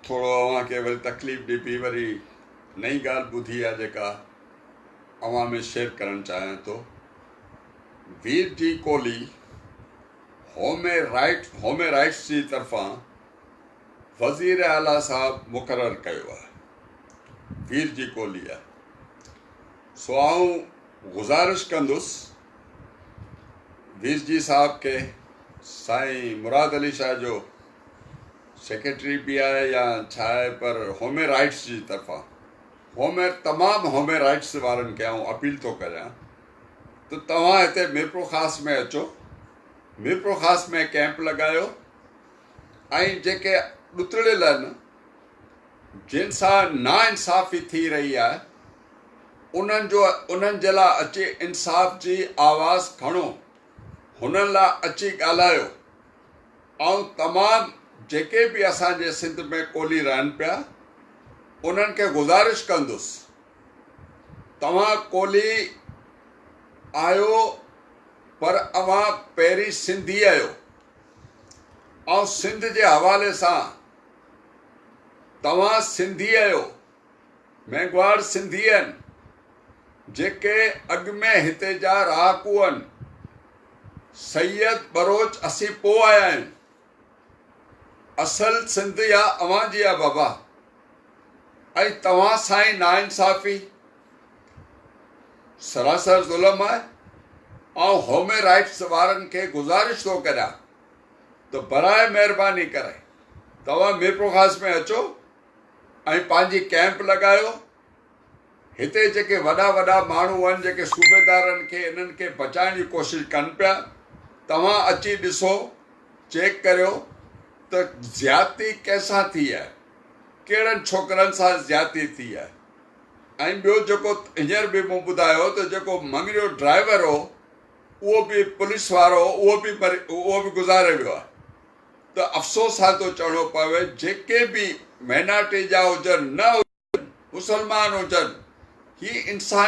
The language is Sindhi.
ٿورو اوهان کي وري تڪليف ڏبي وري نئين ڳالهه ٻڌي آ جيڪا اوهان ۾ شيئر ڪرڻ چاهيان ٿو وير جي ڪولي هومي رائيٽ هومي رائيٽس جي طرفان وزير اعليٰ صاحب مقرر ڪيو آ وير جي ڪولي آ سو آئون گزارش ڪندس ويسجي صاحب کي سائين مراد علي شاهه جو سيڪريٽري به آهي يا ڇا آهي پر هومي رائٽس جي طرفان هومي تمام هومي رائٽس وارن کي آئون اپيل ٿو ڪريان ته توهان هتي ميرپور خاص ۾ اچو ميرپور خاص ۾ ڪيمپ لڳايو ۽ جيڪي ڏتڙيل آهن جن سان ناانصافي ٿي رهي آهي انهن جو انهن جي لاء اچي انصاف جي آواز کڻو هنن لاء اچي ڳالهايو ۽ تمام جيڪي به اسان جي سنڌ ۾ ڪولهي رهن پيا انهن کي گذارش ڪندس توهان ڪولهي آهيو پر اوهان پهرين سنڌي آهيو ۽ سنڌ جي حوالي سان توهان سنڌي اهيو مينگهواڙ سنڌي اهن جيڪي اڳ ۾ هتي جا رهاڪو اهن سيد بروچ اسين پو آيا آهيون اصل سنڌ يا اوهان جي آ بابا ۽ توهان سائين ناانصافي سراسر ظلم آهي آئون هومي رائٽس وارن کي گذارش ٿو ڪريان ته برائي مهرباني ڪري توهان ميرپورخاص ۾ اچو ۽ پنهنجي ڪئمپ لڳايو هتي جيڪي وڏا وڏا ماڻهو آهن جيڪي صوبيدارن کي انهن کي بچائڻ جي ڪوشش ڪن پيا توهان اچي ڏسو چيڪ ڪريو ته زيادتي ڪنهن سان ٿي آهي ڪهڙن ڇوڪرن سان زيادتي ٿي آهي ۽ ٻيو جيڪو هينئر به مون ٻڌايو ته جيڪو مڱريو ڊرائيور هو اهو به پوليس وارو اهو به اهو به گذاري ويو آهي ته افسوس سان ٿو چوڻو پوي جيڪي به مينارٽي جا هجن نه هجن مسلمان هجن هي انساني